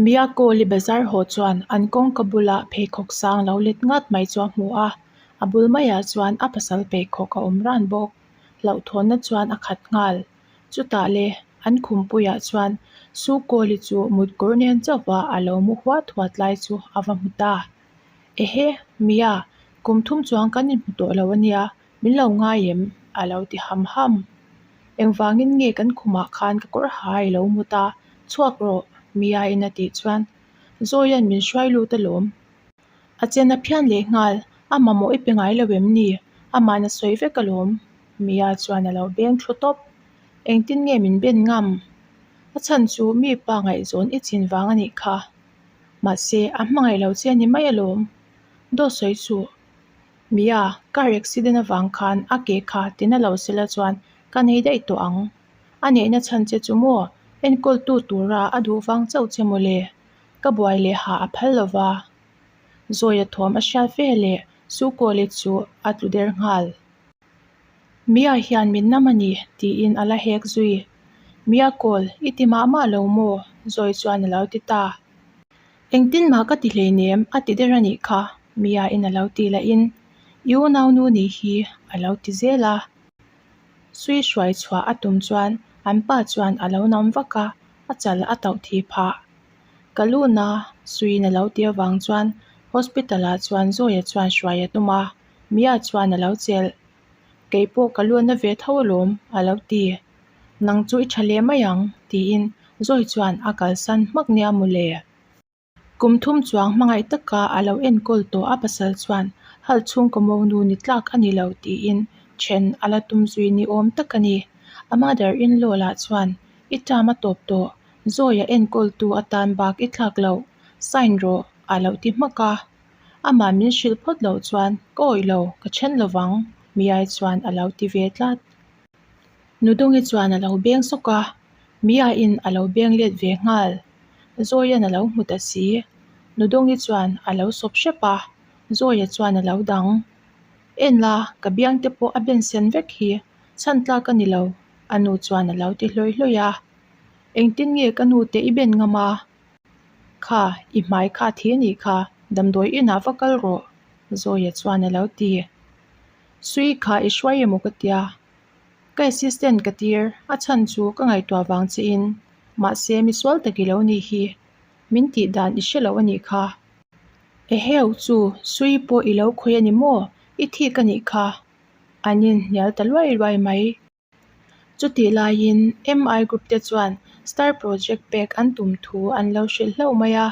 Miyako li bazar haw chuan an kawngka bulah pheikhawk sang lo let ngat mai chu a hmu a, a bul maiah chuan a pasal pheikhawk a awm ran bawk. Hlauhthawnna chuan a khat nghal. Chutah le, an khumpuiah chuan Suko li chu mut kawr nen chauha a lo mu huat huat lai chu a va hmu ta. Ehe, Miya, kum thum chuang kan inhmu tawh lo a nia, min lo ngai em a lo ti ham ham engvangin nge kan khumah khan ka kawr ha i lo mut a chhuak rawh mi a in a tih chuan Zoia'n min hruai lut a lawm a chen a phian leh nghal a mamawh i pe ngai lo em ni amahna sawi vek a lawm mi a chuan a lo beng thlu tawp engtin nge min ben ngam a chhan chu mi pa ngaihzawn i chin vang a nih kha mahse a hmangaih lo che ni mai a lawm Dawtsawi chu. Mia, Car accident avang khan a ke kha tin a lo sela chuan ka nei daih tawh ang. A neihna chhan che chu maw? Enkawltu tura a duh vang chauh che maw le? Ka buai leh ha a phal lo va. Zawia thawm a hriat ve leh Sukolit chu a tlu der nghal. Mia hian min nam a ni tiin a la hek zui. Mia, Kawl, i ti mah mah lo maw? Zawi chuan a lo ti ta. Engtin mah ka ti hlei nem a ti der a nih kha, Mia in a lo ti la in i unau nu nih hi a lo ti zel a. Sui hruai chhuah a tum chuan an pa chuan a lo nam vak a, a chal a tauh thih phah. Ka luna suiin a lo ti avang chuan hospital ah chuan Zawia chuan hruai a tum a, Mia chuan a lo chelh Keipawh ka luatna ve tho alawm, a lo ti. Nang chu i tha leh mai ang, tiin Zawi chuan a kalsan hmak nia maw le. Kum thum chuang hmangaih taka a lo enkawl tawh a pasal chuan hal chhung kawmo nu ni tlak a ni lo tiin then a la tum zui ni awm tak a ni. A mother in law lah chuan i tama ma tawp tawh, Zawi a enkawltu atan bak i thlak loh, sign rawh, a lo ti hmak a. Amah min hrilh phawt loh chuan ka awih lo, ka then lo vang, Miai chuan a lo ti ve tlat. Nudungi chuan a lo beng sawk a, Miaiin a lo beng let ve nghal. Zawia'n a lo hmu ta si. Nudungi chuan a lo sawp hrep a, Zawia chuan a lo dang. En la, ka biang te pawh a ben sen vek hi, chhantlak a ni lo, a nu chuan a lo ti hlawi hlawi a. Engtin nge ka nu te i ben ngam a? Kha, i hmai kha thi a nih kha, damdawi inah va kal rawh, Zawia chuan a lo ti. Sui kha i hruai emaw ka tia, ka assistant ka tir a chhan chu ka ngaihtuah vang che in, mahse misual tak i lo nih hi, min tih dan i hre loh a nih kha. Eheu chu Sui pawh i lo khawih a ni maw, i thik a nih kha, an inhnial ta luai luai mai. Chutih laiin MI Group te chuan Star Project pek an tum thu an lo hrilh hlauh mai a,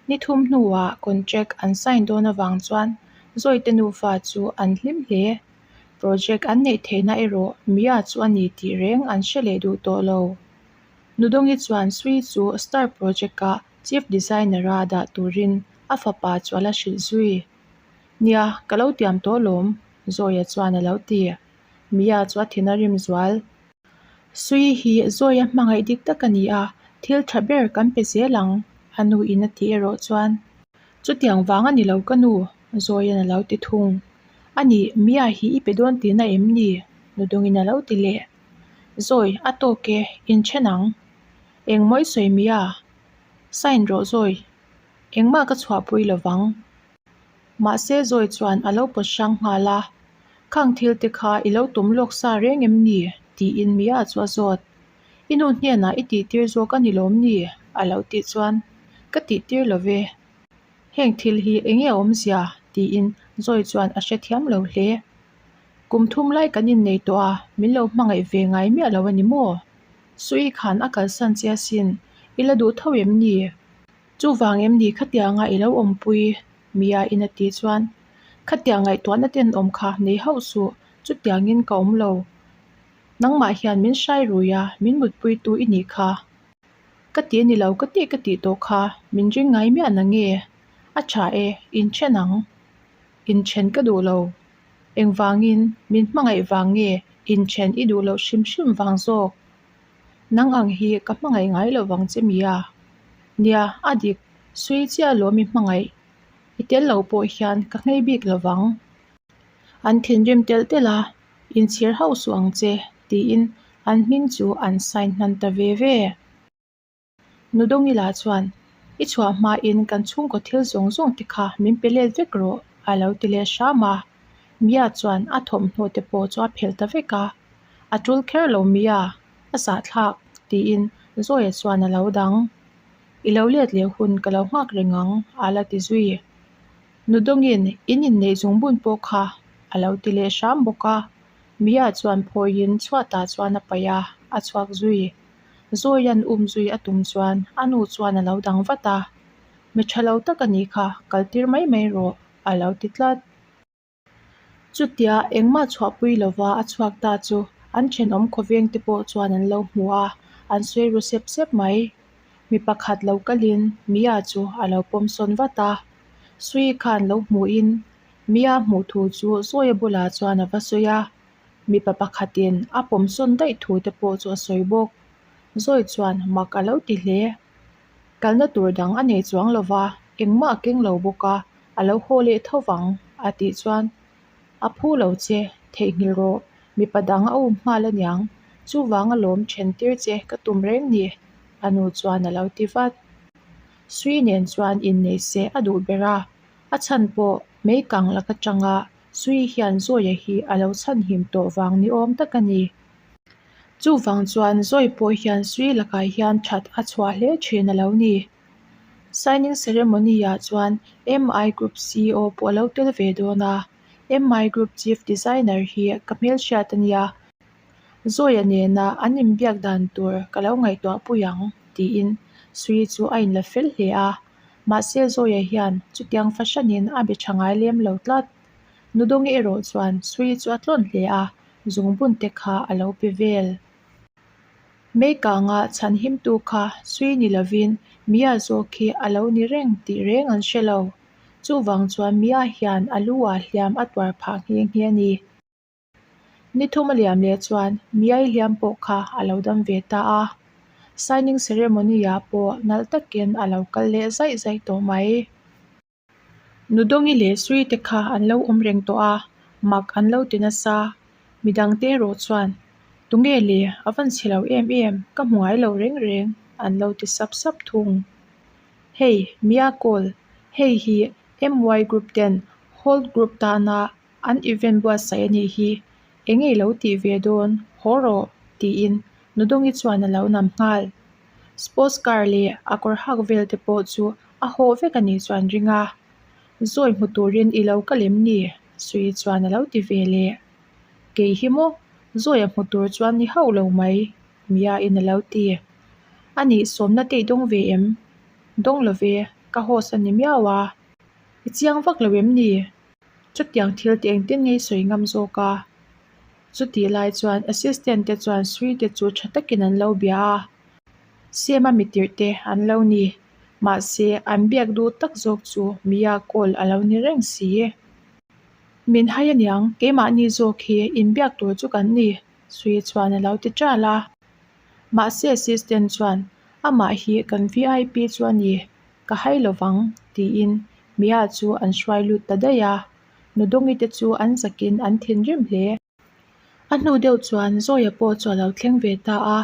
ni thum hnuah contract an sign dawn avang chuan Zawite nufa chu an hlim hle. Project an neih theihna erawh Mia chu a ni tih reng an hre leh duh tawh lo. Nudawngi chuan Sui chu Star Project a Chief Designer a dah turin a fapa chuala hrilh zui nia ka lo tiam tawh lawm, Zawia chuan a lo ti. Mia chu a thin a rim zual. Sui hi zawi a hmangaih dik tak a ni a, thil tha ber kan pe zel ang, a nu in a ti erawh chuan. Chutiang vang a ni lo ka nu, Zawiin a lo ti thung. A ni, Mia hi i pe dawn tihna em ni? Nudungin a lo ti leh. Zawi, a tawk e, in then ang. Eng mawi sawi Mia? Sign rawh Zawi. Engmah ka chhuahpui lo vang. Mahse zawi chuan a lo pawt hrang nghal a, Khang thil te kha i lo tum lawk sa reng em ni? tiin Mia chu a zawt. I nu hnenah i tihtir zawk a ni lawm ni? a lo tih chuan Ka tihtir lo ve. Heng thil hi eng nge a awmzia? tiin zawi chuan a hre thiam lo hle. Kum thum lai kan innei tawh a, min lo hmangaih ve ngai miah lo a ni maw? Suii khan a kalsan chiasin i la duh tho em ni? Chuvang em ni khatiang nga i lo awmpui mia in a tih chuan khatiang ngaihtuahna te an awm kha nei hauh suh chutiang in ka awm lo nangmah hian min hrai rui a min mutpui tu i nih kha ka ti a ni lo ka tih ka tih tawh kha min ring ngai miah na nge a tha e in then ang in then ka duh lo engvangin min hmangaih vang nge in then i duh loh hrim hrim vang zawk. nang ang hi ka hmangaih ngai lo vang che mi a nia a dik sawi chiah lo mi hmangaih i tel lo pawh hian ka nghei bik lo vang an thinrim tel tel a inchhir hauh suh ang che tiin an hming chu an sign hman ta ve ve. Nudongila chuan, I chhuah hmain kan chhungkaw thil zawng zawng te kha min pe let vek rawh, a lo ti leh hram a. Mia chuan a thawmhnaw te pawh chu a phelh ta vek a, A tul kher lo Mia, a sahthlak, tiin Zoe chuan a lo dang. I lo let leh hun ka lo nghak reng ang, a la ti zui. Nudongin in inneih zung bun pawh kha a lo ti leh hram bawk a. Mia chuan phawiin chhuatah chuan a paih a, a chhuak zui. Zawia'n um zui a tum chuan a nu chuan a lo dang vat a, Mi tha lo tak a nih kha, kal tir mai mai rawh, a lo ti tlat. Chutiah engmah chhuahpui lova a chhuak ta chu an thenawm khawveng te pawh chuan an lo hmu a, an sawi ru sep sep mai. Mi pakhat lo kalin Mia chu a lo pawm sawn vat a, Sui khan lo hmuhin Mia hmuh thu chu Zawia bulah chuan a va sawi a. Mipa pakhatin a pawm sawn daih thu te pawh chu a sawi bawk. Zawi chuan mak a lo ti hle. Kalna tur dang a nei chuang lo va, engmah a keng lo bawk a, a lo haw leh tho vang. A tih chuan, A phu lo che, theihnghilh rawh, mipa dang a um nghal a niang. Chuvang a lawm then tir che ka tum reng ni, a nu chuan a lo ti vat. Sui nen chuan innei seh a duh ber a, a chhan pawh meikang lak atanga Sui hian Zawia hi a lo chhanhim tawh vang ni awm tak a ni. Chuvang chuan Zawi pawh hian Sui lakah hian that a chhuah hle thin a lo ni. Signing ceremony-ah chuan MI Group CEO pawh a lo tel ve dawn a, MI Group Chief Designer hi ka hmelhriat a nia, Zawia nena an inbiak dan tur ka lo ngaihtuahpui ang, tiin Sui chu a inla fel hle a. Mahse Zoya hian chutiang fahranin a biaṭha ngai lem lo tlat. Nudonge erawh chuan Sui chu a tlawn hle a, zungbun te kha a lo pe vel. Meikanga chhanhimtu kha Sui ni lovin Mia zawk hi a lo ni reng tih reng an hre lo. Chuvang chuan Mia hian a lu a hliam a tuar phah nghe nghe a ni. Ni thum a liam leh chuan miai hliam pawh kha a lo dam ve ta a, signing ceremony-a pawh nalh takin a lo kal leh zaih zaih tawh mai. Nudawngi leh Srite kha an lo awm reng tawh a, mak an lo ti nasa. Midang te erawh chuan, Tunge le, a van chhe lo em em, ka hmu ngai lo reng reng, an lo ti sap sap thung. Hei, Mia Kawl, hei hi MY group ten Holt group tana An event buatsaih a nih hi, eng i lo tih ve dawn haw rawh? tiin Nudongi chuan a lo nam nghal. Sports car leh a kawr hak vel te pawh chu a haw vek a nih chuan ring a, zawi hmu turin i lo ka lem ni? Sui chuan a lo ti ve leh. Kei hi maw? Zawi a hmu tur chuan ni hauh lo mai? Mia in a lo ti. A nih sawmna teih dawng ve em? Dawng lo ve, ka host a ni miau a. I chiang vak lo em ni? Chutiang thil te engte ngei sawi ngam zawk a, chutih lai chuan assistant te chuan sui te chu tha takin an lo bia a, siam a mitirh te an lo ni. Mahse, an biak duh tak zawk chu Mia call a lo ni reng si e. Min hai a niang, keimahni zawk hi inbiak tur chu kan ni, Sui chuan a lo ti ṭal a. Mahse assistant chuan, Amah hi kan VIP chu a ni, ka hai lo vang, tiin Mia chu an hruai lut ta daih a, Nudongi te chu an zakin an thin rim hle. A hnu deuh chuan Zawia pawh chu a lo thleng ve ta a,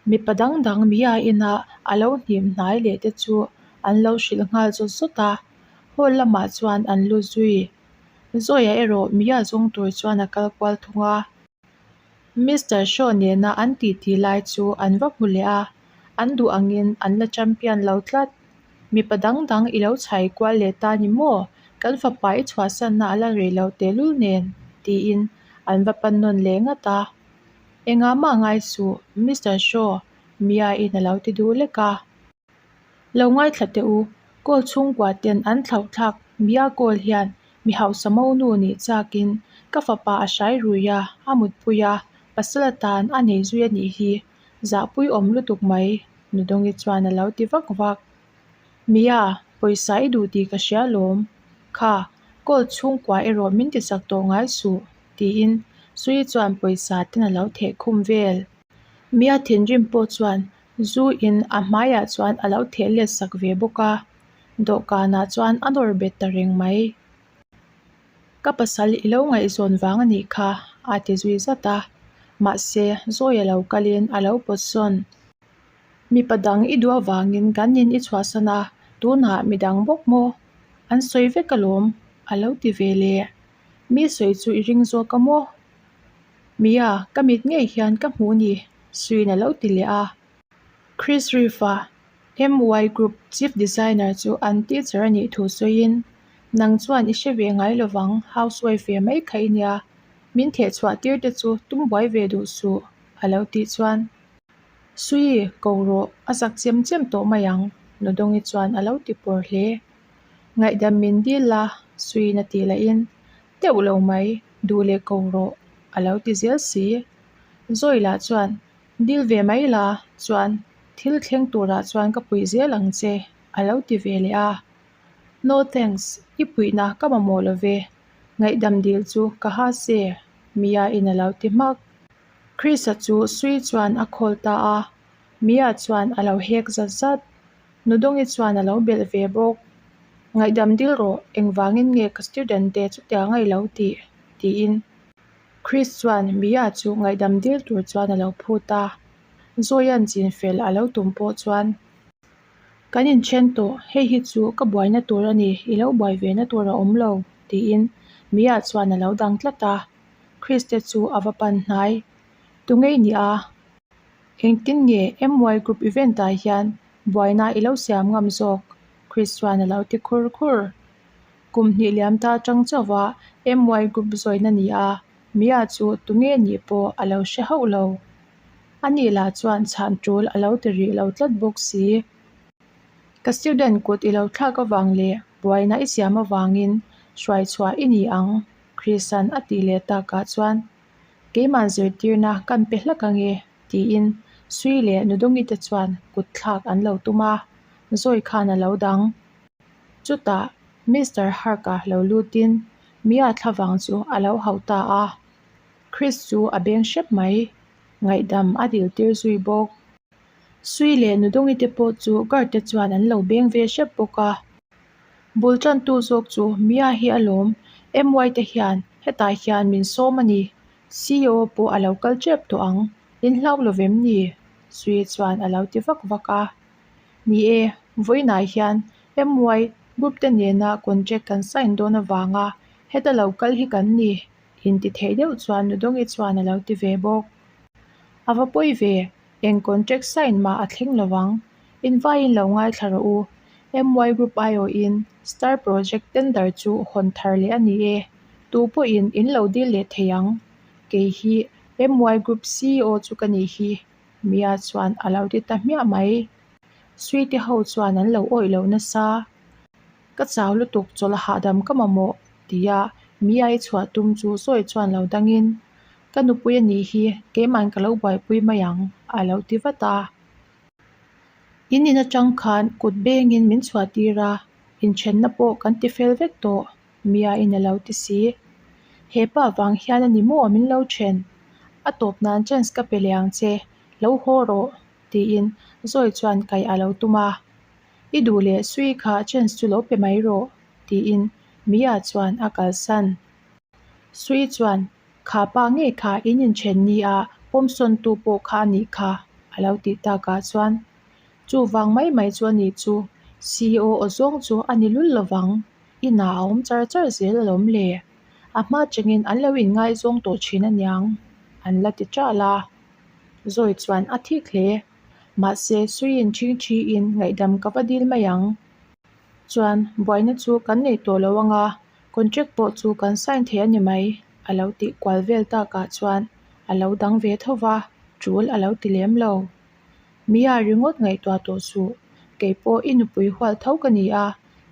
mipa dang dang Mia inah a lo hnim hnai leh te chu an lo hrilh nghal zawt zawt a, hall lamah chuan an lu zui. Zawia erawh Mia zawng tur chuan a kal kual thung a. Mister Shaw nena an titi lai chu an va hmu leh a, an duh angin an la champion lo tlat. Mipa dang dang i lo chhai kual leh ta ni maw? Kan fapa i chhuahsanna a la rei lo tehlul nen? tiin an va pannawn leh ngat a. Engah mah ngai suh, Mister Shaw Mia-in a lo ti duh lek a. Lo ngaithla teh u, Kawl chhungkuaten an thlauhthlak Bia Kawl hian mi hausa mo nu nih chakin ka fapa a hrai rui a, a mutpui a, pasala tan a nei zui a nih hi, zahpui awm lutuk mai, Nudongi chuan a lo ti vak vak. Mia, pawisa i duh tih ka hria lawm kha, Kawl chhungkua erawh min tichak tawh ngai suh, tiin Sui chuan pawisa ten a lo theh khum vel. Mia thinrim pawh chuan Zu in a hmaiah chuan a lo theh let sak ve bawk a, dawhkanah chuan a nawr bet ta reng mai. Ka pasal i lo ngaihzawn vang a nih kha a ti zui zat a, mahse zawi a lo kal in a lo pawt sawn. Mipa dang i duh avangin kan in i chhuahsan a, tunah midang bawk maw an sawi vek alawm? A lo ti ve leh Mi sawi chu i ring zawk a maw? Mia, ka mit ngei hian ka hmuh ni, Suin a lo ti leh a. Chris Reeve-a MY Group Chief Designer chu an teacher a nih thu sawiin, Nang chuan i hre ve ngai lo vang, housewife ve mai kha i nia, min theh chhuah tir te chu tum buai ve duh suh, a lo tih chuan, Sui, ko rawh, a zak chiam chiam tawh mai ang, Nodawngi chuan a lo ti pawr hle. Ngaihdam min dil la, suina tih la in, deuh lo mai, duh leh ko rawh, a lo ti zel si. Zawi lah chuan, Dil ve mai la, chuan thil thleng turah chuan ka puih zel ang che, a lo ti ve leh a. No thanks, i puihna ka mamawh lo ve, ngaihdam dil chu ka ha se, Mia in a lo ti hmak. Chris-a chu sui chuan a call ta a, Mia chuan a lo hek zat zat. Nudongi chuan a lo belh ve bawk, Ngaihdam dil rawh, engvangin nge ka student te chutia ngai lo tih? tiin Chris chuan Mia chu ngaihdam dil tur chuan a lo phut a, Zoyan chin fel a lo tum pawh chuan. Kan inthen tawh, hei hi chu ka buaina tur a ni, i lo buai ve na tur a awm lo, tiin Mia chuan a lo dang tlat a, Chris te chu a va pan hnai, Tu ngei nia. Engtin nge MY group event ah hian buaina i lo siam ngam zawk? Christian a lo ti khur khur. Kum hnih liam ta chang chauh a MY group zawin a ni a, Mia chu tunge nih pawh a lo hre hauh lo. A nih lah chuan chhan tul a lo ti rih lo tlat bawk si. Ka student kut i lo thlak avang leh buaina i siam avangin hruai chhuah i ni ang, Christian a tih leh takah chuan. Keimah zirtirna kan pe hlek ange, tiin Sui leh Nudongi te chuan kutthlak an lo tum a, zawi khan a lo dang. Chutah Mister Hark-a lo lutin Mia thla vang chu a lo hauh ta a, Chris chu a beng hrep mai, ngaihdam a diltir zui bawk. Sui leh Nudongi te pawh chu guard te chuan an lo beng ve hrep bawk a, bul tantu zawk chu Mia hi a lawm, MY te hian hetah hian min sawm a ni, CEO pawh a lo kal tep tawh ang, in hlau lo vem ni? Sui chuan a lo ti vak vak a, ni e, vawiinah hian MY group te nena contract kan sign dawn avanga heta lo kal hi kan ni, in ti theih deuh chuan Nudonge chuan a lo ti ve bawk. A va pawi ve, eng contract sign mah a thleng lo ang, invaiin lo ngaithla rawh u, MY Group aiawhin Star Project tender chu hawn thar leh a ni e, tu pawhin in lo dil leh thei ang, kei hi MY Group CEO chu ka nih hi, Mia chuan a lo ti ta hmiah mai. Sweety ho chuan an lo awih loh nasa. Ka chau lutuk chawlh a hahdam ka mamawh ti a Mia-i chhuah tum chu sawi chuan lo dangin, Ka nupui a nih hi, keima'n ka lo buaipui mai ang, a lo ti vat a. In in atang khan kut bengin min chhuahtir a, inthenna pawh kan ti fel vek tawh, Mia-in a lo ti si. Hepa vang hian a ni maw min lo then, a tawp nan chance ka pe leh ang che, lo haw rawh, tiin Zawi chuan kaih a lo tum a. I duh leh sui kha chance chu lo pe mai rawh, tiin Mia chuan a kalsan. Sui chuan, Kha pa ngei kha in inthen ni a, pawmsawntu pawh kha a nih kha, a lo tih takah chuan, Chuvang mai mai chu a nih chu, CEO aw zawng chu a ni lul lovang, inah a awm char char zel a lawm le, a hma chengin an lo inngaizawng tawh thin a niang, an la ti ṭah la. Zawi chuan a thik hle. Mahse, Suiin ching ṭhiin ngaihdam ka va dil mai ang chuan buaina chu kan neih tawh lo ang a, contract pawh chu kan sign thei a ni mai, a lo tih kual vel takah chuan a lo dang ve tho va, ṭul a lo ti lem lo. Mia ringawt ngaihtuah tawh suh, kei pawh i nupui hual tho ka ni a,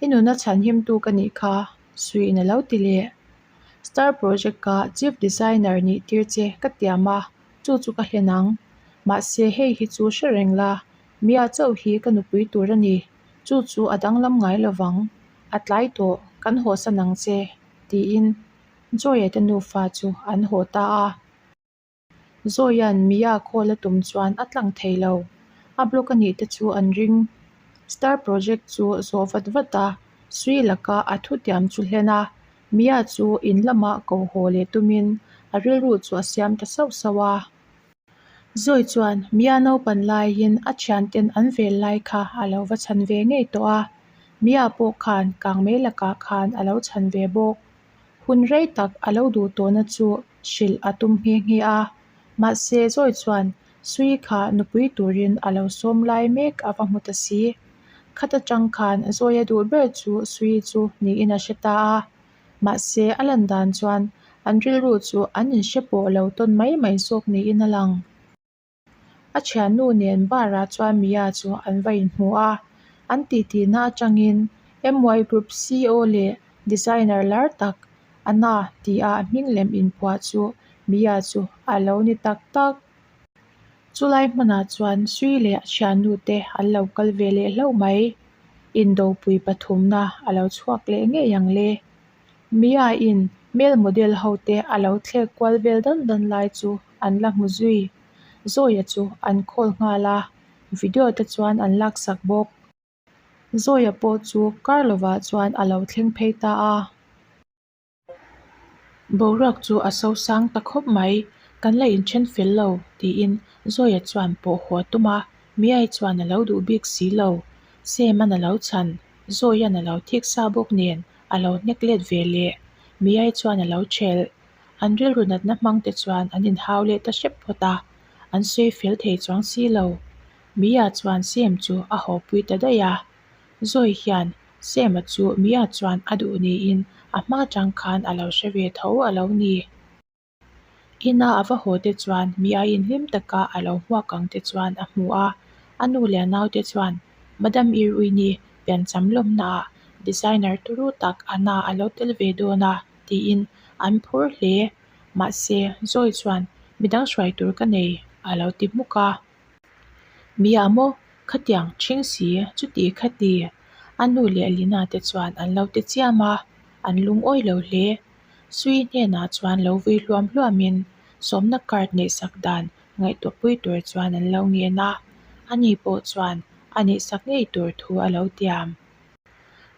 i nuna chhanhimtu ka nih kha, Suiin a lo ti leh. Star Project-a Chief Designer nih tir che ka tiam a, Chu chu ka hlen ang. Mahse, hei hi chu hre reng la, Mia chauh hi ka nupui tur a ni. Chu chu a danglam ngai lo vang. A tlai tawh, kan haw san ang che, tiin Zoya-te nufa chu an haw ta a. Zoya-n Mia call a tum chuan a tlang thei lo. A block a nih te chu an ring. Star project chu zawh vat vat a, Sri Laka a thutiam chu hlen a, Mia chu in lamah ko haw leh tumin a rilru chu a siam ta sauh sauh a. Zawi chuan Mia naupan laiin a thianten an vel lai kha a lo va chhan ve ngei tawh a. Mia pawh khan kang mai lakah khan a lo chhan ve bawk. Hun rei tak a lo duh tawhna chu hrilh a tum nghe nghe a. Mahse Zawi chuan Sui kha nupui turin a lo sawm lai mek a va hmu ta si. Khat atang khan a zawi a duh ber chu Sui chu niin a hre ta a. Mahse, a lan dan chuan an rilru chu an inhre pawh lo tawn mai mai zawk niin a lang. A thiannu nen barah chuan Mia chu an va inhmu a. An titihna atangin MY Group CEO leh designer lar tak A na, ti a a hming lem in phuah chu Mia chu a lo ni tak tak. Chu lai hmunah chuan Sui leh a thiannu te an lo kal ve leh hlauh mai. Indopui pathumna a lo chhuak leh ngei ang le. Mia in male model ho te a lo thlek kual vel dan dan lai chu an la hmu zui. Zoya chu an call nghal a, video te chuan an laksak bawk. Zoya pawh chu kar lovah chuan a lo thleng phei ta a. Boruak chu a so sang ta khawp mai. Kan la inthen fel lo, tiin Zoya chuan pawh huah tum a. Miai chuan a lo duh bik si lo. Sam-an a lo chhan. Zoya-an a lo thik sa bawk nen, a lo hnek let ve le. Miai chuan a lo ṭhelh. An rilru natna hmangte chuan an inhau let ta hrep phawt a. An sawi fel thei chuang si lo. Mia chuan Sem chu a hawpui ta daih a, Zoe hian Sem-a chu Mia chuan a duh niin a hma tang khan a lo hre ve tho a lo ni. Ina a va haw te chuan Mia in hlim taka a lo hmuak ang te chuan a hmu a, a nu leh a nau te chuan Madam Irwin-i pian cham lawmna ah designer turu tak a na a lo tel ve dawn a tiin an phur hle. Mahse Zoe chuan midang hruai tur ka nei a lo ti hmuk a. Bia maw? Khatiang chhing si, chutih khati a nu leh Lina te chuan an lo ti chiam a, an lungawi lo hle. Sui hnenah chuan lo vui hluam hluamin sawmna card neih sak dan ngaihtuahpui tur chuan an lo ngen a, ani pawh chuan a neih sak ngei tur thu a lo tiam.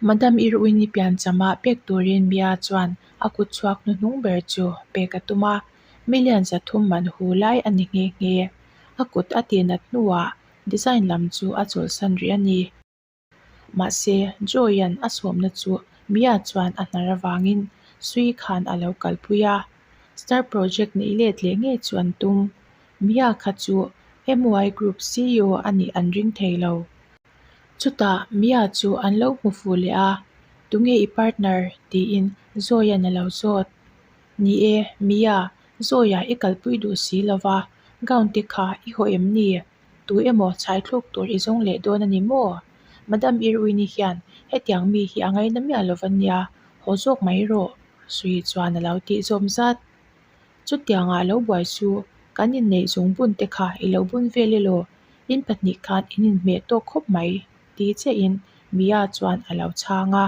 Madam Irwin-i pianchama pek turin Bia chuan a kutchhuak hnuhnung ber chu pek a tum a, Million zathum man hu lai a ni nghe nghe. A kut a ti nat hnuah design lam chu a chawlhsan rih a ni. Mahse, Joy-a'n a sawmna chu Mia chuan a hnar avangin Sui khan a lo kalpui a. Star Project neih let leh ngei chu an tum. Mia kha chu MY Group CEO a nih an ring thei lo. Chutah Mia chu an lo hmu fuh leh a, Tunge i partner? tiin Joy-a'n a lo zawt. Ni e, Mia, zawiah i kalpui duh si lo va, gown te kha i haw em ni? Tui emaw chhaithluk tur i zawng leh dawn a ni maw? Madam Irwin-i hian hetiang mi hi a ngai na miah lo an nia, haw zawk mai erawh, suih chuan a lo tih zawm zat. Chutiang ah lo buai chu, kan inneih zung bun te kha i lo bun vel ilo, in pahnih khan in inhmeh tawk khawp mai, ti che in Mia chuan a lo chhang a.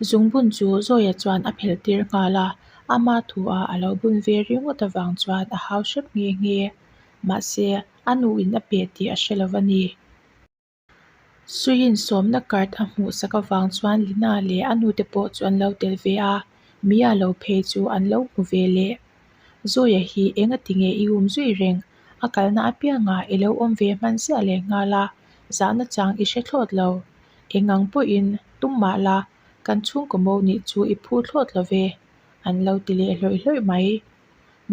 Zungbun chu Zawia chuan a phelh tir nghal a, ama thu ah a lo bun ve ringawt avang chuan a hau hrep nghe nghe. Mahse, a nu in a peh tih a hre lo a ni. Suiin sawmna card a hmuh sak avang chuan Lina leh a nu te pawh chu an lo tel ve a, Mia lo phei chu an lo hmu ve leh. Zawia hi eng a ti nge i um zui reng? A kalna apianga i lo awm ve hman ziah lehnghal a, zahna chang i hre thlawt lo. Eng ang pawhin tum mah la, kan chhungkaw mo nih chu i phu thlawt lo ve, an lo ti leh hlawih hlawih mai.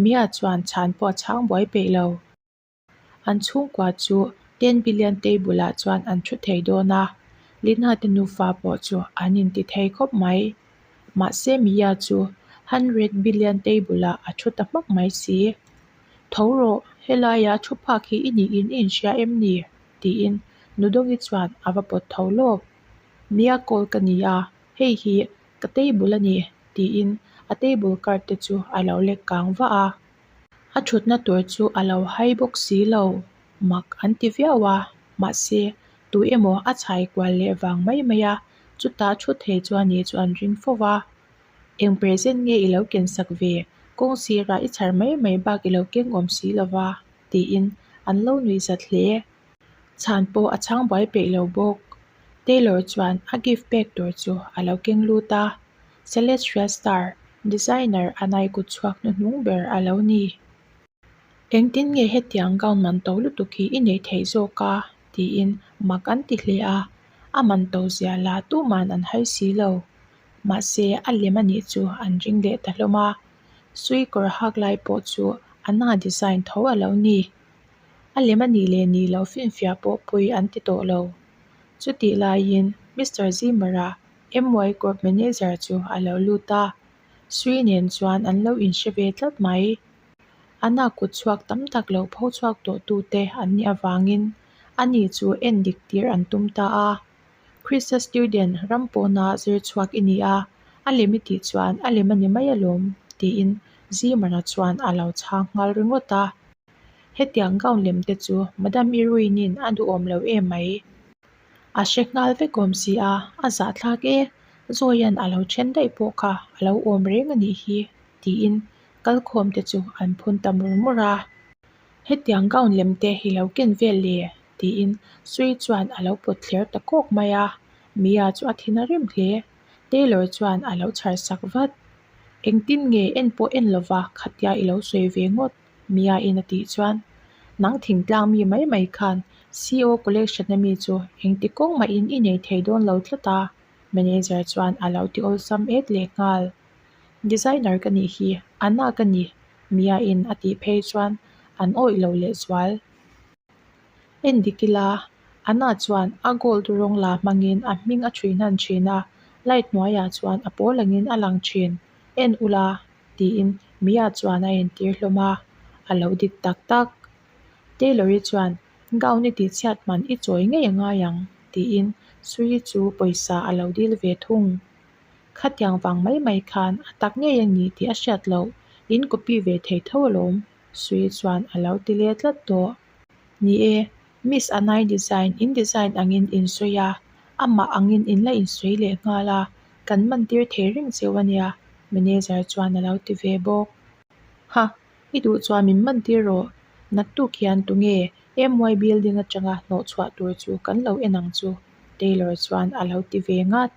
Mia chuan chhan pawh a chhang buai peih lo. An chhungkua chu ten billion tei bulah chuan an thu thei dawn a, Linhate nufa pawh chu an intithei khawp mai. Mahse Mia chu hundred billion tei bulah a thu ta hmak mai si. Tho rawh, helaia thu phak hi i niin i inhria em ni? tiin Nudogi chuan a va pawt tho lawk. Mia call ka ni a, hei hi ka table a ni, tiin a table card te chu a lo lek kang vah a. A thutna tur chu a lo hai bawk si lo, mak an ti viau a, mahse, tui emaw a chhai kual leh vang mai mai a, chutah thu thei chuan ni chu an ring fo va. Eng present nge i lo ken sak ve? Kawng sirah i chhar mai mai bak i lo keng awm si lova, tiin an lo nui zat hle. Chhan pawh a chhang buai peih lo bawk. Taylor chuan a gift pek tur chu a lo keng lut a. Celestial Star designer a nai kut chhuak hnu hnung ber a lo ni. Engtin nge hetiang gown man to lutuk hi i neih theih zawk a? tiin mak an ti hle a, a man to zia la tuma'n an hai si lo. Mahse, a lem a nih chu an ring leh ta hlawm a, sui kawr a hak lai pawh chu a nang a design tho a lo ni. A lem a nih leh nih lo finfiah pawh pui an ti tawh lo. Chutih laiin Mister Zimmer-a MY court manager chu a lo lut a, Sri nen chuan an lo inhre ve tlat mai. Ana kut chhuak tam tak lo pho chhuak tawh tu te an nih avangin ani chu en dik tir an tum ta a. Chrisa student ram pawna zir chhuak i nia, a lem i tih chuan a lem a ni mai alawm tiin Zimana chuan a lo chhang nghal ringawt a. Hetiang gown lem te chu Madam Irwin in a duhawm lo em mai. A hre nghal vek awm si a, a zahthlak e, Zawia'n a lo then daih pawh kha a lo awm reng a nih hi, tiin kalkhawm te chu an phun ta mur mur a. Hetiang gown lem te hi lo ken vel le? tiin Sui chuan a lo pawt thler ta kawk mai a, Mia chu a thin a rim hle. Tailor chuan a lo chhar sak vat. Engtin nge en pawh en lova khatia i lo sawi ve ngawt. Mia in a tih chuan, Nang thingtlang mi mai mai khan CEO collection a mi chu engti kawng mah in i nei thei dawn lo tlat a. Manager chuan a lo ti awlsam et leh nghal. Designer ka nih hi, Anna ka ni, Mia in a tih phei chuan an awih lo leh zual. En dik ila, Anna chuan a gold rawng la hmang in a hming a ṭhui hnan ṭhin a, light hnuaiah chuan a pawl angin a lang ṭhin. En ula, Tiin Mia chuan a entir hlawm a, a lo dik tak tak. Taylor i chuan, Gown i tihchhiat hman i chawi ngei a ngai ang, tiin Sui chu pawisa a lo dil ve thung. Khatiang vang mai mai khan a tak ngei a ni tih a hriat loh, in copy ve thei tho alawm, Sui chuan a lo ti le tlat tawh. Ni e, Miss Anai design in design angin in sawi a, amah angin in la in sawi leh nghal a, Kan man tir thei reng cheu a nia, manager chuan a lo ti ve bawk. Ha, i duh chuan min man tir rawh. Naktuk hian tunge MY Building atanga hnawh chhuah tur chu kan lo en ang chu? Taylor chuan a lo ti ve ngat.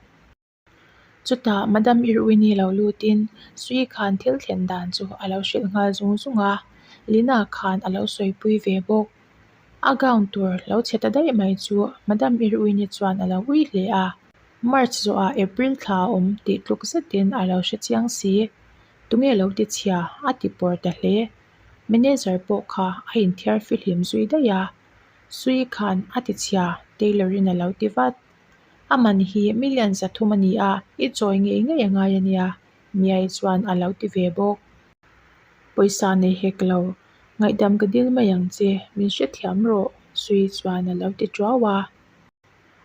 Chutah Madam Irwin-i lo lutin Sui khan thil thlen dan chu a lo hrilh nghal zung zung a, Lina khan a lo sawipui ve bawk. A gown tur lo chhe ta daih mai chu Madam Irwin-i chuan a lo ui hle a. March zawhah April thla a awm tih tluk zetin a lo hre chiang si. Tunge lo ti chhia? A ti pawr ta hle. Manager pawh kha a inthiar fi hlim zui daih a. Sui khan a ti chhia, Taylor-in a lo ti vat. A man hi million za thum a ni a, i chawi ngei ngei a ngai a nia, Mia-i chuan a lo ti ve bawk. Pawisa nei hek lo, ngaihdam ka dil mai ang che, min hrethiam rawh, Sui-i chuan a lo ti ṭuau a.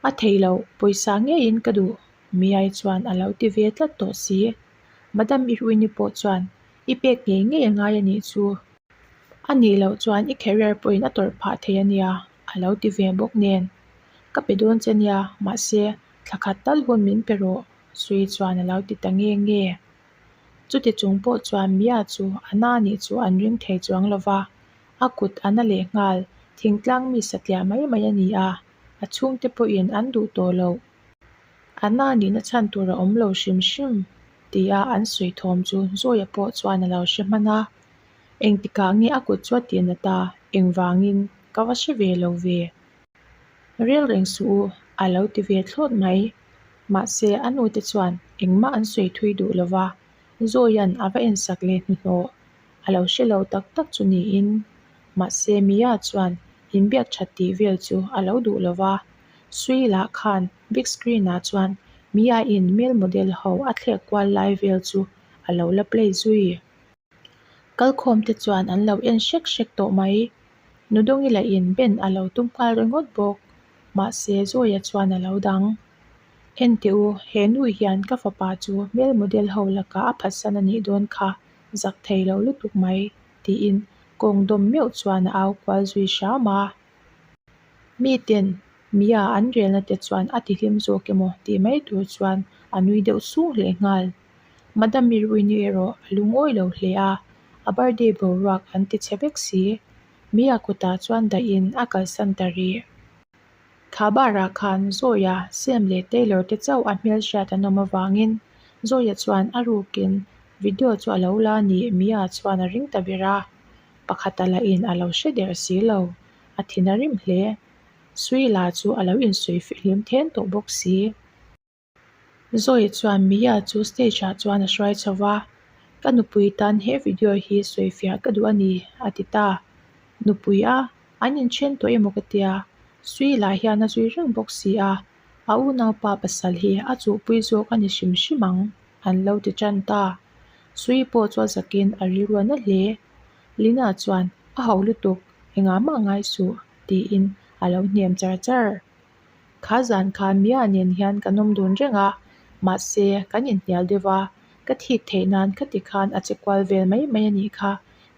A thei loh, pawisa ngeiin ka duh. Miai chuan a lo ti ve tlat tawh si. Madam Iruini pawh chuan, I pek ngei ngei a ngai anih chu. A nih loh chuan i career pawhin a tawrh phah thei a nia, a lo ti ve bawk nen. Ka pe dawn che nia, mahse, thla khat tal hun min pe rawh. Sui chuan a lo ti ta nge nge. Chuti chung pawh chuan Mia chu a na anih chu an ring thei chuang lo va. A kut a na leh nghal, thingtlang mi satliah mai mai a ni a. a chhungte pawhin an duh tawh lo. A na nihna chhan tur a awm lo hrim hrim tih a an sawi thawm chu Zawiah pawh chuan a lo hre hman a, engtikah nge a kut chuah tih na ta, engvangin ka va hre ve lo ve? Rel reng suh u, a lo ti ve thlawt mai. Mahse a nute chuan engmah an sawi thui duh lo va, Zawia'n a va en sak leh hnuhnawh A lo hre lo tak tak chu niin. Mahse Mia chuan in biak that tih vel chu a lo duh lo va. Sui lah khan big screen ah chuan Mia in male model ho a thlek kual lai vel chu a lo la play zui. Kal khawm te chuan an lo en hrek hrek tawh mai. Nudongila in Ben a lo tum nghal ringawt bawk. Mahse Zoya chuan a lo dang. Ente u, he nu hian ka fapa chu male model ho lakah a phatsan a nih dawn kha. Zak thei loh lutuk mai, tiin kawng dawm meuh chuan a au kual zui hram a. Miten Mia an relna te chuan a tihlim zawk emaw tih mai tur chuan a nui deuh sung hle nghal. Madam Miruini erawh a lung awi lo hle a, a birthday boruak an ti chhe vek si. Mia kutah chuan daih in a kalsan ta rih. Khâbârah khân Zawia, Sam leh Taylor te chauh a hmêlhriat an awm avângin, Zawia chuan a rûkin, Video chu a lo la a ni, Mia chuan a ring ta ber a, pakhata lahin a lo hre der si lo, a thin a rim hle. Suila chu a lo insawi fihlim thên tawh bawk si. Zoe chuan Mia chu stage ah chuan a hruai chho va, Ka nupui tan he video hi sawi fiah ka duh a ni, a ti ta. Nupui a, an inthian tawh emaw ka tia, Sui lah hian a zui reng bawk si a, a unaupa pasal hi a chuhpui zawk a ni hrim hrim ang, an lo ti tan ta. Sui pawh chu a zak in a rilruah nalh hle. Lina chuan, A hauh lutuk, engah mah ngai suh, tiin a lo hniam char char. Kha zan kha mia nen hian kan awm dun reng a, mahse kan inhnial deuh va, ka thik theih nan ka ti khan a che kual vel mai mai a nih kha,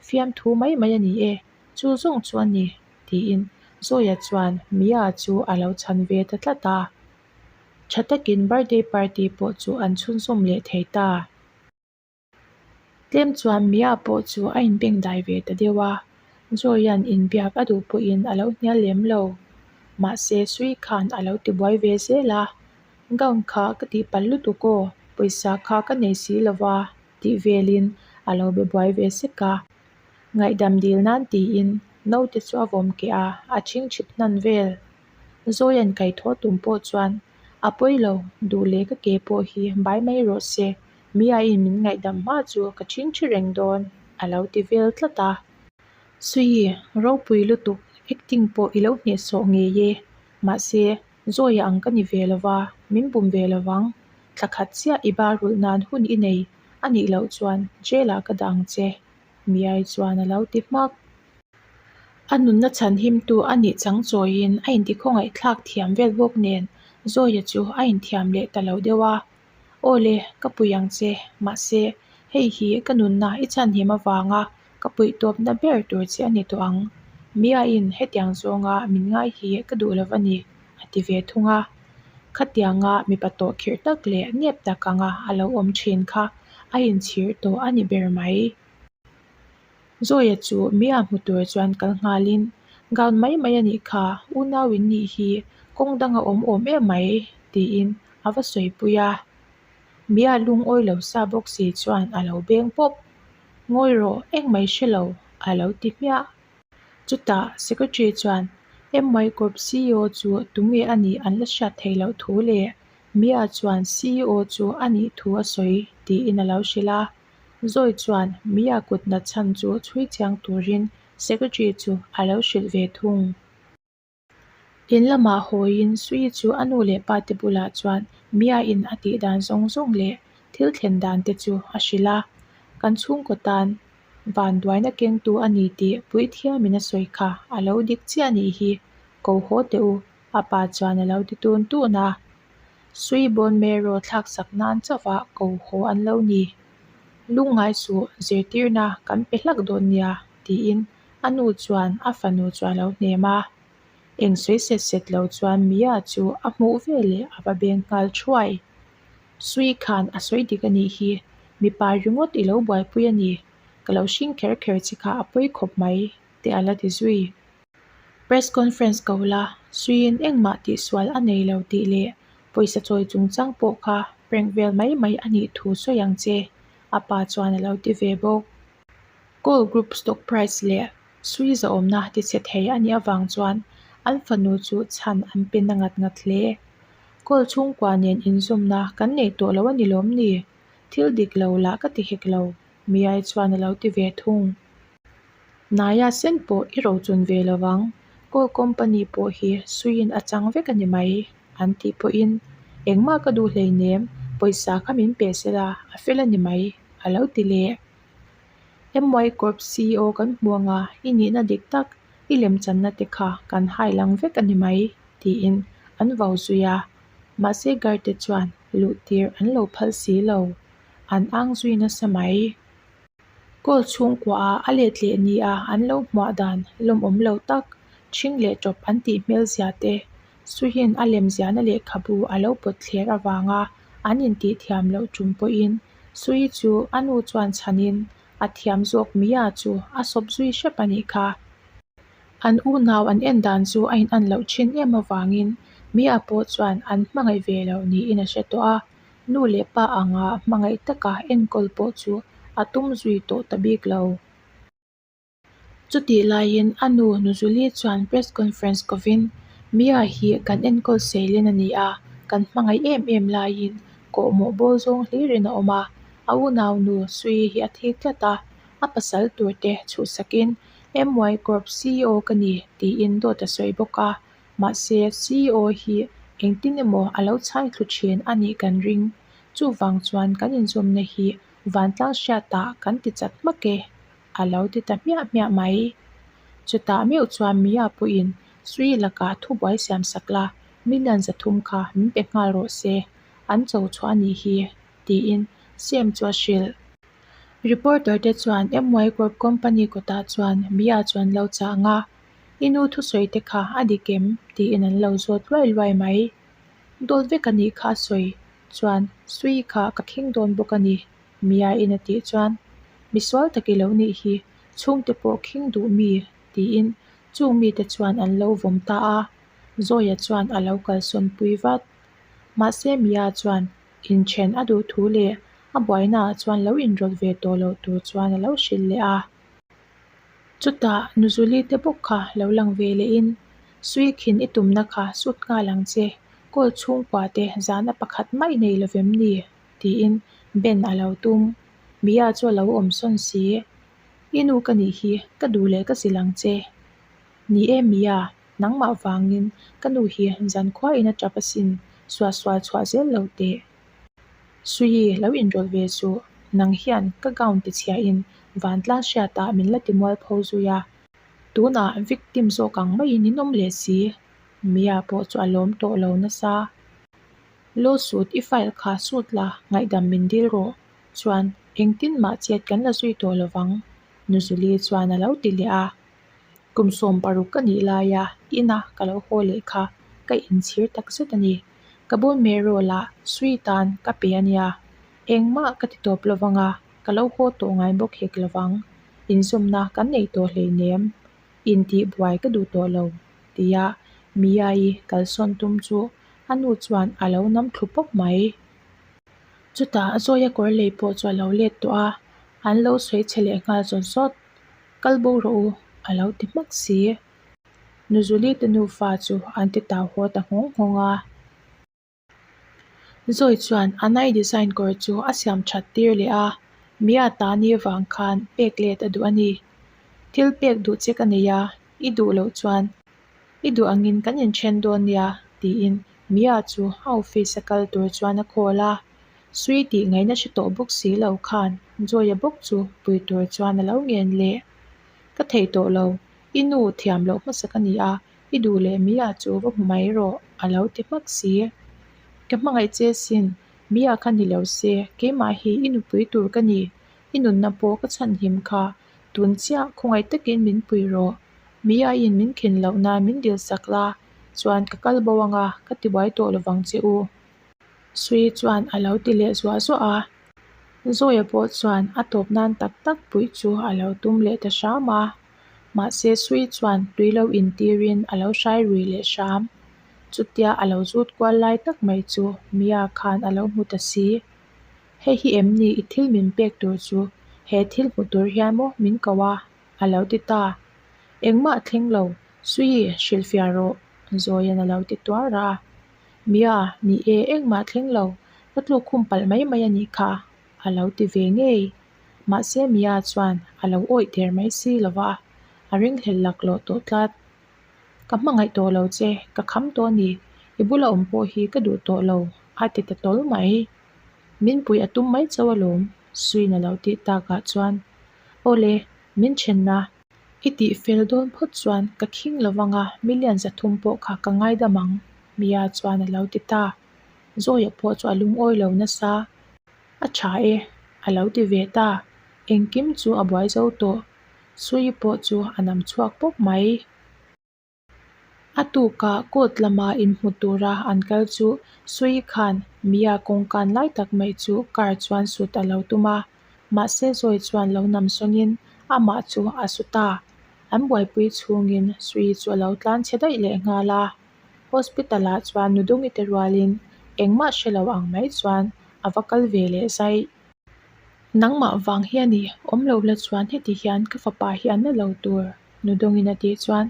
fiam thu mai mai a ni e, chu zawng chu a ni, tiin Zawia chuan mia chu a lo chhan ve ta tlat a, tha takin birthday party pawh chu an chhunzawm leh thei ta. Tlem chuan Mia pawh chu a inbengdai ve ta deuh a, Joyan in biak a duh pawhin a lo hnial lem lo. Mahse, Sui khan a lo tibuai ve zel a, Gown kha ka tihpalh lutuk aw, pawisa kha ka nei si lo va, tih velin a lo be buai ve sek a. Ngaihdam dil nan tiin Note chu a vawm keh a, a ching chhip hnan vel. Joyan kaithawh tum pawh chuan, A pawi lo, duh leh ka ke pawh hi bai mai rawh se, Miain min ngaihdam hma chu ka ṭhin ṭhi reng dawn a lo ti vel tlat a. Suii, ropui lutuk acting pawh i lo hnehsawh ngei e. Mahse, Zawia ang ka ni ve lo va, min bum ve lo vang. Tla khat chiah i barulh nan hun i nei a nih loh chuan jail-ah ka dah ang che. Miai chuan a lo ti hmak. A nunna chhanhimtu a nih chang chawiin a inti khawngaih thlak thiam vel bawk nen Zawia chu a inthiam leh ta lo deuh a. Aw le, ka puih ang che. Mahse, hei hi ka nunna i chhanhim avanga ka puih tawpna ber tur che a ni tawh ang. Miain hetiang zawnga min ngai hi ka duh lo va ni, a ti ve thung a. Khatianga mipa tawh khirh tak leh nep tak anga a lo awm thin kha a inchhir tawh a ni ber mai. Zawia chu Mia hmu tur chuan kal nghal in, Gown mai mai a nih kha, unau in nih hi kawng dang a awm awm em mai tiin a va sawipui a. Mia lungawi lo sa bawk si chuan a lo beng pawp. Ngawi rawh, engmai hre lo, a lo ti hmiah. Chutah secretary chuan, Emmai Corp CEO chu tunge a nih an la hriat theih loh thu le? Mia chuan, CEO chu a nih thu a sawi tiin a lo hrilh a. Zawi chuan Mia kutna chhan chu chhui chiang turin Secretary chu a lo hrilh ve thung. In lamah hawiin Sui chu a nu leh pa te bulah chuan Mia in a tih dan zawng zawng leh thil thlen dan te chu a hrilh a, Kan chhungkaw tan vanduaina kengtu a ni tih puithiam in a sawi kha a lo dik chiah nih hi, ko haw teh u, a pa chuan a lo ti tun tun a. Sui Bone Marrow thlaksak nan chauha ko haw an lo ni. Lungngai suh zirtirna kan pe hlak dawn nia, tiin a nu chuan a fanu chu a lo hnem a. Eng sawi set set lo chuan Mia chu a hmuh veleh a va beng nghal thuai. Sui khan a sawi dik a nih hi, mipa ringawt i lo buaipui a ni, ka lo hring kher kher che kha a pawi khawp mai, tih a la ti zui. Press conference ko la, suiin engmah tihsual a nei lo tih leh pawisa chawi chung chang pawh kha prank vel mai mai a nih thu sawi ang che, a pa chuan a lo ti ve bawk. Call group stock price leh sui zahawmna tichhe thei a nih avang chuan an fanu chu chhan an pe na ngat ngat hle. Call chhungkua nen inzawmna kan nei tawh lo a ni lawm ni? Thil dik lo lah ka ti hek lo, Miai chuan a lo ti ve thung. Naya sen pawh i rochun ve lo vang. Coal company pawh hi suiin a chang vek a ni mai, an tih pawhin, Engmah ka duh hlei nem, pawisa kha min pe sela, a fel a ni mai, a lo ti leh. MY Corp CEO kan hmuanga i nihna dik tak, i lemchanna te kha kan hailang vek a ni mai, tiin an vau zui a. Mahse guard te chuan luh tir an lo phal si lo, an ang zui nasa mai. Goal chhungkua ah a let leh ni a an lo hmuah dan lawm awm lo tak, chhing leh tawp an tih hmel zia te, Suhin a lemziahna lehkhabu a lo pawt thler avang a, an intithiam loh tum pawhin Suhi chu a nu chuan chhan in, A thiam zawk mi a chu, a sawp zui hrep a nih kha. An unau an en dan chu a in an loh thin em avangin Mia pawh chuan an hmangaih ve lo niin a hre tawh a. Nu leh pa anga hmangaih taka enkawl pawh chu a tum zui tawh ta bik lo. Chutih laiin a nu Nuzuli chuan press conference kovin, Mia hi kan enkawl seilin a ni a, kan hmangaih em em laiin kawh mawh bawl zawng hlirin a awm a. A unau nu Sui hi a thik tlat a, a pasal tur te chhuhsakin MY Corp CEO ka ni tiin dawt a sawi bawk a. Mahse, CEO hi engtin emaw a lo chhai thlu thin a nih kan ring. Chuvang chuan kan inzawmna hi vantlang hriatah kan ti chat hmak e, a lo ti ta hmiah hmiah mai. Chutah meuh chuan Mia pawhin, Sri lakah thubuai siam sak la, million zathum kha min pe nghal rawh se, an cho chhuah a nih hi, tiin Sem chu a hrilh. Reporter te chuan MY Corp company kawtah chuan Mia chuan lo chah ang a. I nu thusawite kha a dik em? tiin an lo zawt luai luai mai. Dawt vek a nih kha a sawi chuan Sui kha ka khing dawn bawk a ni, Miain a tih chuan. Misual tak i lo nih hi, chhungte pawh khing duh mi? tiin chung mite chuan an lo vawm ta a. Zawia chuan a lo kalsawnpui vat. Mahse Mia chuan inthen a duh thu leh a buainaah chuan lo inrawt ve tawh loh tur chuan a lo hrilh leh a. Chutah Nuzuli te bawk kha lo lang ve leh in, Sui khin i tumna kha sut nghal ang che, Call chhungkua te zan a pakhat mai nei lovem ni? tiin Ben a lo tum. Mia chu a lo awm sawn si. I nu ka nih hi, ka duh leh ka zil ang che. Ni e Mia, nangmah vangin ka nu hi zan khua in a tap asin, suah sual chhuah zel lo teh. Suyi, lo inrawlh ve suh. Nang hian ka gown ti chhiahin Vantlang hriatah min la timual pho zui a. Tunah victim zawk ang maiin in awm leh si. Mia pawh chu a lawm tawh lo nasa. Lawsuit i file kha sut la, ngaihdam min dil rawh. Chuan, Engtin mah chiat kan la zui tawh lo vang. Nuzuli chuan a lo ti leh a. Kum sawm paruk ka nih laia ina ka lo haw leh kha ka inchhir takzet a ni. Ka bawn meh rawh la, Sweet a'n ka pe a nia. Engmah ka ti tawp lovang a, ka lo haw tawh ngai bawk hek lovang. Inzawmna kan nei tawh hleinem. Intihbuai ka duh tawh lo, tia Mia-i kalsawn tum chu a nu chuan a lo nam thlu pawp mai. Chutah Zawia kawr lei pawh chu a lo let tawh a, an lo sawi che leh nghal zawt zawt. Kal bo rawh u, a lo ti hmak si. Nuzuli te nufa chu an ti tau haw ta nghawng nghawng a. Zawi chuan a nai design kawr chu a siam that tir leh a. Miata ni avang khan pek let a duh a ni. Thil pek duh che ka nei a, i duh loh chuan i duh angin kan inthen dawn nia, tiin Mia chu a office a kal tur chuan a call a. Sui tih ngaihna hre tawh bawk si lo khan Zawia bawk chu pui tur chuan a lo ngen leh. Ka thei tawh lo, I nu thiam loh hmasa ka ni a, i duh leh mi ah chu va hmu mai erawh a lo ti hmak si. Ka hmangaih che sin, mi ah kha ni lo se, keimah hi i nupui tur ka ni, i nunna pawh ka chhanhim kha, tun chiah khawngaih takin min pui rawh, mi ah in min khin loh nan min dil sak la chuan ka kal bo anga ka ti buai tawh lovang che u. Sui chuan a lo ti leh zuah zuah a, Zawia pawh chuan a tawp nan tak tak pui chu a lo tum leh ta hram a. Mahse Sui chuan tui lo in tir in a lo hrai rui leh hram. Chutia a lo zut kual lai tak mai chu Mia khan a lo hmu ta si. Hei hi em ni i thil min pek tur chu he thil hmu tur hian maw min ko a? a lo ti ta. Engmah thleng lo, Sui hrilhfiah rawh, Zawia'n a lo ti tuar a. Mia, Ni e, engmah thleng lo, ka tluk khum palh mai mai a nih kha, A lo ti ve ngei. Mahse Mia chuan a lo awih der mai si lo va, a ringhlel lak lawh tawh tlat. Ka hmangaih tawh lo che, ka kham tawh a ni. I bula awm pawh hi ka duh tawh lo, a ti ta tawlh mai. Min pui a tum mai cho alawm, Suin a lo tih takah chuan, Aw le, min ṭhenna. I tih fel dawn phawt chuan ka khing lo vang a, million za thum pawh kha ka ngaidam ang, Mia chuan a lo ti ta. Zawiah pawh chu a lungawi lo nasa a tha e, a lo ti ve ta, engkim chu a buai zo tawh, Sui pawh chu a nam chhuak pawp mai. A tuka court lama inhmu tura an kal chu Sui khan Mia kawngkan lai tak mai chu car chuan sut a lo tum a, mahse Zawi chuan lo nam sawngin amah chu a sut a, an buaipui chhungin Sui chu a lo tlan chhe daih leh nghal a. Hospital-ah chuan Nudungite rualin engmah hre lo ang mai chuan a va kal ve leh zai. Nangmah vang hian i awm lo la chuan heti hian ka fapa hi a na lo tur Nudungin a tih chuan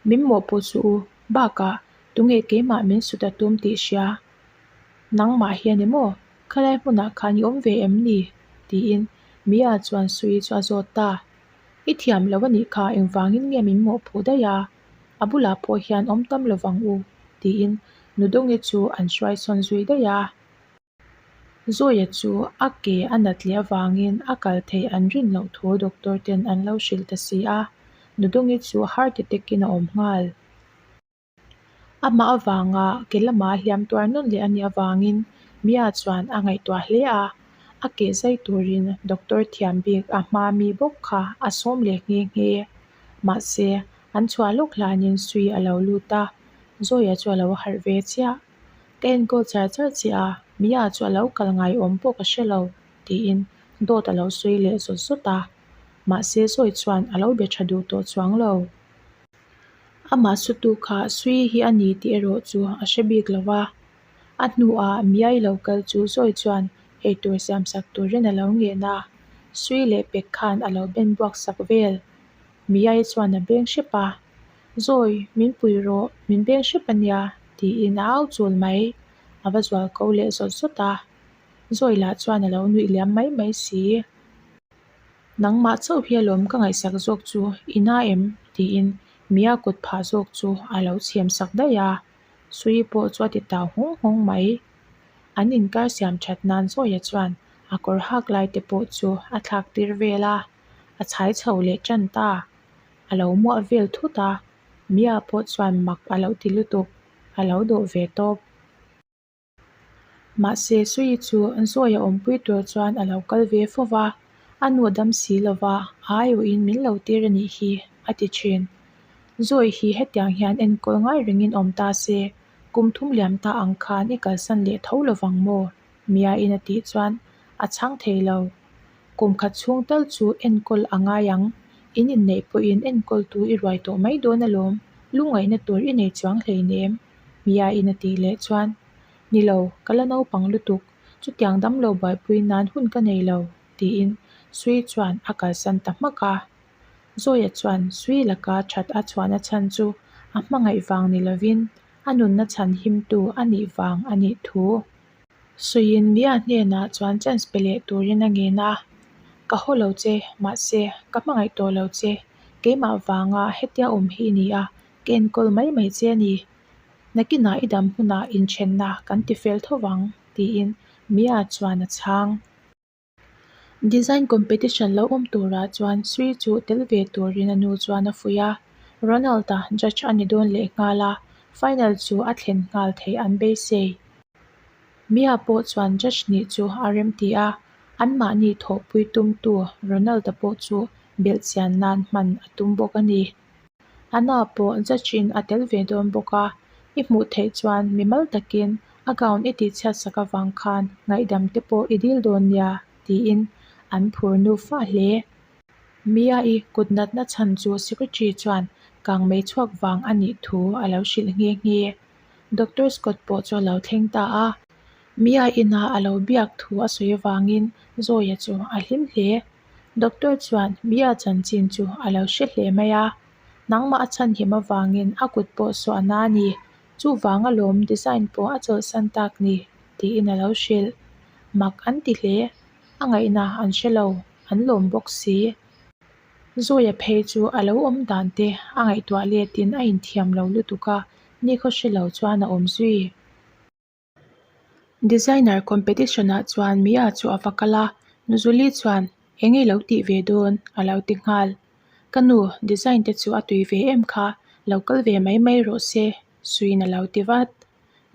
min mawh pawh chu u, bakah tunge keimah min su ta tum tih hria? Nangmah hian emaw khalai hmunah khan i awm ve em ni? tiin Mia chuan Sui chu a zawt ta. I thiam lo a nih kha engvangin nge min mawh phu daih a? A bulah pawh hian awm tam lo vang u, tiin Nudawnge chu an hruai sawn zui daih a. Zawia chu a ke a nat leh avangin a kal thei an rin loh thu doctor ten an lo hrilh ta si a, Nudawnge chu heart attack in a awm nghal. Amah avanga ke lama a hliam tuar nawn leh a nih avangin Mia chuan a ngaihtuah hle a, a ke zai turin doctor thiam bik a hma mi bawk kha a sawm leh nghe nghe. Mahse, an chhuah lawk hlanin sui a lo lut a, Zoya chu a lo harh ve chiah. Ka enkawl char char che a, Mia chu a lo kal ngaiawm bawk a hre lo, tiin dawt a lo sawi leh zawt zawt a. Mahse, Zoe chuan a lo be tha duh tawh chuang lo. Amah sutu kha sui hi a ni tih erawh chu a hre bik lo a. A hnuah mi ailo kal chu zawi chuan eitur siam sak tur hian alo nghehna a, sui leh pek khan alo ben buak sak vel. Mi ai chuan a beng hrep a, Zawi min pui rawh, min beng hrep a nia, tiin a au chul mai. A va zual ko leh zawt zawt a, Zawi lah chuan alo nuih liam mai mai si. Nangmah chauh hi alawm ka ngaihsak zawk chu ina em? tiin mi a kut phah zawk chu alo chhiam sak daih a. Sui pawh chu a ti tau hawng hawng mai. An inkar siam that nan zawia chuan a kawr hak lai te pawh chu a thlak tir vel a, a chhai chho leh tan ta. A lo muah vel thut a, Mia pawh chuan mak a lo ti lutuk, a lo dawh ve tawp. Mahse, Sui chu zawi a awmpui tur chuan a lo kal ve fo va, a nuah dam si lo va, aiawh in min lo tir a nih hi, a ti thin. Zawi hi hetiang hian enkawl ngai rengin awm ta se, kum thum liam ta ang khan i kalsan leh tho lo vang maw? Mia in a tih chuan a chhang thei lo. Kum khat chhung tal chu enkawl a ngai ang, in inneih pawhin enkawl tu i ruai tawh mai dawn alawm, lungngaihna tur i nei chuang hleinem. Miahin a tih leh chuan, Ni lo, ka la naupang lutuk, chutiang dam lo buaipui nan hun ka nei lo, tiin Sui chuan a kalsan ta hmak a. Zawia chuan Sui laka that a chhuahna chhan chu a hmangaih vang ni lovin, a nunna chhan himtu a nih vang a nih thu. Suiin Mia hnenah chuan chance pe leh turin a ngen a, Ka haw lo che, mahse, ka hmangaih tawh lo che, keimah vanga hetia awm hi i ni a, Ka enkawl mai mai che a ni. Nakinah i dam hunah inthenna kan ti fel tho vang, tiin Mia chuan a chhang. Design competition lo awm turah chuan Sri chu tel ve turin a nu chuan a fuih a. Ronald-a judge a ni dawn leh nghal a, final chu a thlen nghal thei an beisei. Mia pawh chuan judge hnih chu a rem ti a, anmahni thawhpui tumtu Ronald-a pawh chu belhchian nan hman a tum bawk a ni. Anna pawh Zachin a tel ve dawn bawk a, I hmuh theih chuan mi mal takin a gown i tih chhiatsak avang khan ngaihdam te pawh i dil dawn nia tiin an phur nuv a hle. Mia i kut natna chhan chu secretary chuan kang mei chhuak vang a nih thu a lo hrilh nghe nghe. Doctor Scott pawh chu a lo thleng ta a. Mia ina a lo biak thu a sawi vangin Zawia chu a hlim hle. Doctor chuan Mia chanchin chu a lo hre hle mai a, nangmah a chhanhim avangin a kut pawh suahna a ni. Chuvanga lawm design pawh a chawlhsan tak ni, tiin a lo hrilh. Mak an ti hle, a ngaihna an hre lo, an lawm bawk si. Zawia phei chu a lo awm dan te a ngaihtuah letin a inthiam lo lutuk a, ni khaw hre lo chuan a awm zui. Designer competition ah chuan Mia chu a va kal a, Nuzuli chuan Eng i lo tih ve dawn? a lo ti nghal. Ka nu, design te chu a tui ve em kha, lo kal ve mai mai rawh se, suiin a lo ti vat.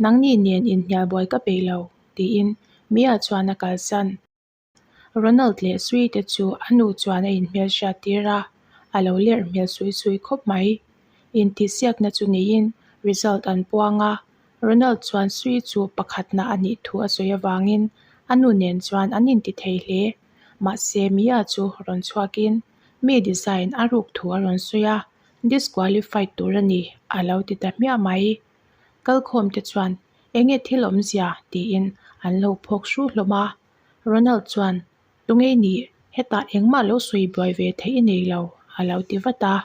Nangni nen inhnial buai ka peih lo, tiin Mia chuan a kalsan. Ronald leh Sui te chu a nu chuan a inhmelhriat tir a, a lo lerh hmel sui sui khawp mai. Intihsiakna chu neiin result an puang a, Ronald chuan Sui chu pakhatna a nih thu a sawi avangin a nu nen chuan an intithei hle. Mahse, Mia chu rawn chhuakin mi design a ruk thu a rawn sawi a, disqualified tur a ni a lo ti ta hmiah mai. Kalkhawmte chuan, Enge thil awmzia? tiin an lo phawk hru hlawm a. Ronald chuan, Tungei nih hetah engmah lo sawi buai ve theih i nei lo, a lo ti vat a.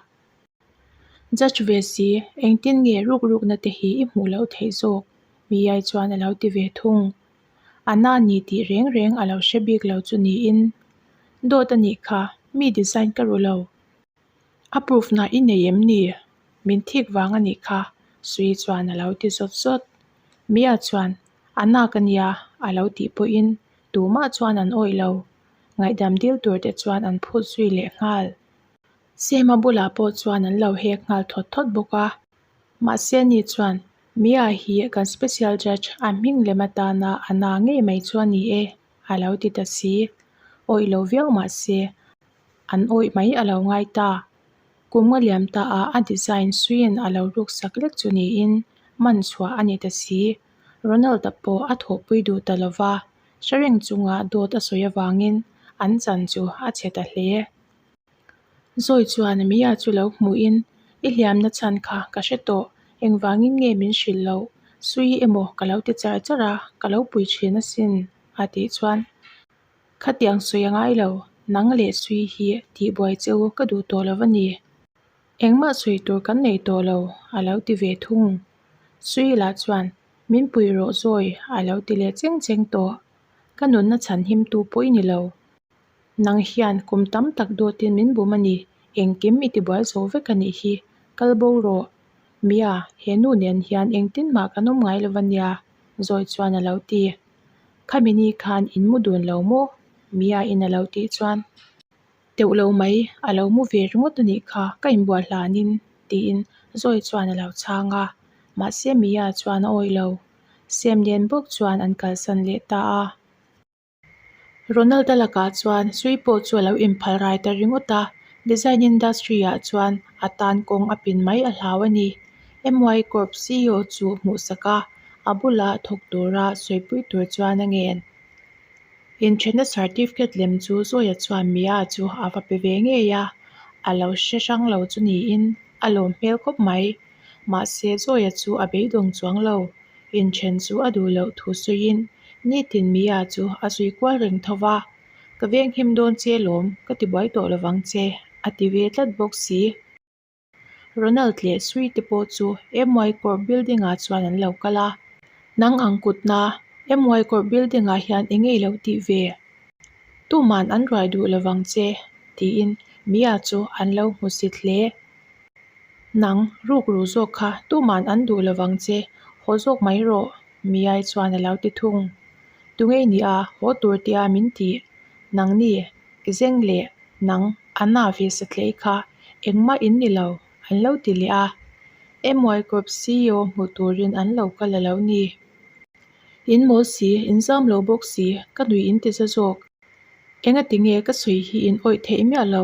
Judge ve si, engtin nge rukrukna te hi i hmuh loh theih zawk? Miyai chuan a lo ti ve thung. A na ni tih reng reng a lo hre bik lo chu niin, Dawt a nih kha, mi design ka ru lo. A proof na i nei em ni? Min thik vang a nih kha, Sui chuan a lo ti zawt zawt. Mia chuan, A nak a nia, a lo tih pawhin tumah chuan an awih lo. Ngaihdam dil tur te chuan an phut zui leh nghal. Seema bulah pawh chuan an lo hek nghal thawt thawt bawk a. Mahse ni chuan, Mia hi kan special judge a hming lem atana a na ngei mai chu a ni e, a lo ti ta si. Awih lo viau mah se, an awih mai a lo ngai ta. Kum nga liam ta ah a design suiin a lo ruksak lek chu niin man chhuah a ni ta si. Ronald-a pawh a thawhpui duh ta lo va, Hrereng chungah dawt a sawi avangin an chan chu a chhe ta hle. Zawi chuan a mia chu lo hmuhin, I hliamna chhan kha ka hre tawh, engvangin nge min hrilh loh? Sui emaw ka lo ti char char a, ka lo pui thin asin, a tih chuan. Khatiang sawi a ngai lo, nang leh sui hi tihbuai che u ka duh tawh lo va ni. Engmah sawi tur kan nei tawh lo a lo ti ve thung. Sui lah chuan min puih rawh zawi a lo ti leh cheng cheng tawh. Ka nunna chhan him tu pawh i ni lo. Nang hian kum tam tak dawt in min bum a ni, engkim i tibuai zo vek a nih hi. Kal bo rawh. Mia, he nu nen hian engtin mah kan awm ngai lo va nia, zawi chuan a lo ti. Khami ni khan in mu dun lo maw? Mia in a lo tih chuan. Deuh lo mai, a lo mu ve ringawt a nih kha, ka in buaih hlan in, tiin Zawi chuan a lo chhang a. Mahse Mia chuan a awih lo. Sem nen bawk chuan an kalsan leh ta a. Ronald a lakah chuan Sui pawh chu a lo in phal rai ta ringawt a. Design industry ah chuan a tan kawng a pin mai a hlau a ni. MY Corp CEO chu hmuhsak a, a bulah thawk tura sawipui tur chuan a ngen. Inthenna certificate lem chu zawiah chuan Mia chu a va pe ve ngei a, a lo hre hrang lo chu niin a lawm hmel khawp mai. Mahse zawiah chu a beidawng chuang lo, inthen chu a duh loh thu sawiin nitin Mia chu a zui kual reng tho va, Ka veng him dawn che lawm, ka ti buai tawh lo vang che, a ti ve tlat bawk si. Ronald leh Sui te pawh chu MY Court Building ah chuan an lo kal a, nang ang kut na, MY Court Building ah hian eng nge i lo tih ve? Tuman an ruai duh lo vang che, tiin Mia chu an lo hmu si hle. Nang, rukru zawk kha tuman an duh lo vang che, haw zawk mai rawh, Mia-i chuan a lo ti thung. Tunge i nih a, haw tur teh a min tih, nang ni, Kizeng leh nang Anna ve sathlei kha engmah in ni lo an lo ti leh a, MY group CEO hmuh turin an lo kal a lo ni. In mawl si, in zam lo bawk si, ka nuih in ti za zawk. Enga ti nge ka sawi hi in awih theih miah lo,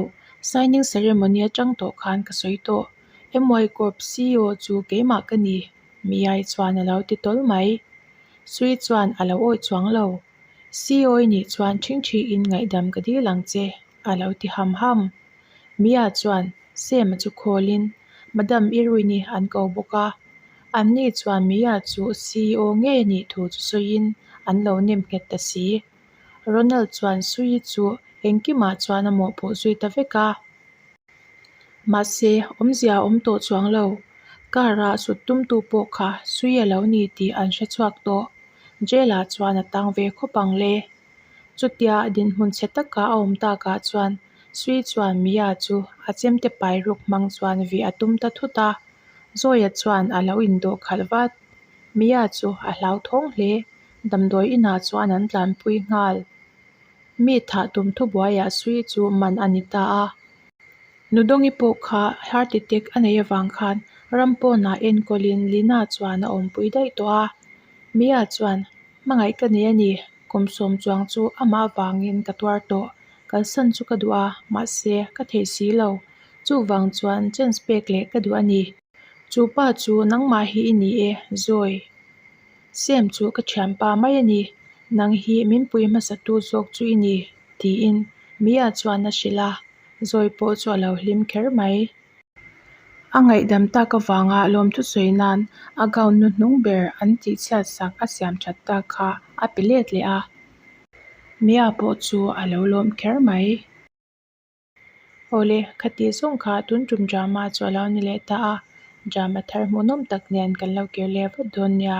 signing ceremony atang tawh khan ka sawi tawh, MY group CEO chu keimah ka ni, Miai chuan a lo ti tawl mai. Sui chuan a lo awih chuang lo. Sioi nih chuan ṭhing ṭhi in ngaihdam ka dil ang che, a lo ti ham ham. Mia chuan Sam-a chu khawl in, Madam Irui ni an ko bawk a, an ni chuan Mia chu Sioi nge nih thu chu sawi in an lo nem nghet ta si. Ronald chuan Sioi chu engkim ah chuan a mawhpawh zui ta vek a. Mahse, awmzia a awm tawh chuang lo. Car-ah sut tum tu pawh kha sui a lo ni tih an hre chhuak tawh. Jail-ah chuan a tang ve khawp ang le. Chutia dinhmun chhe taka a awm takah chuan sui chuan Mia chu a chem te pai ruk hmang chuan vih a tum ta thut a. Zawia chuan a lo indawh khalh vat. Mia chu a hlau thawng hle. Damdawi inah chuan an tlanpui nghal. Mi thah tum thubuaia sui chu man a ni ta a. Nudawngi pawh kha heart attack a nei avang khan ram pawnah enkawlin Lina chuan a awmpui daih tawh a. Mia chuan, Hmangaih ka nei a ni, kum sawm chuang chu amah avangin ka tuar tawh. Kalsan chu ka duh a, mahse ka theih si lo. Chuvang chuan chance pek leh ka duh a ni. Chu pa chu nangmah hi i ni e, Zawi. Sem chu ka thiam pa mai a ni. Nang hi min pui hmasa tu zawk chu i ni, tiin Mia chuan a hrilh a, Zawi pawh chu a lo hlim kher mai. A ngaihdam tak avanga lawmthu sawi nan a gown nu hnung ber an tih chhiat sak a siam that tak kha a pe let leh a. Mia pawh chu a lo lawm kher mai. Awle, khati zawng kha a tun tum drama chu a lo ni leh ta a, drama thar hmuhnawm tak nen kan lo kir leh vat dawn nia.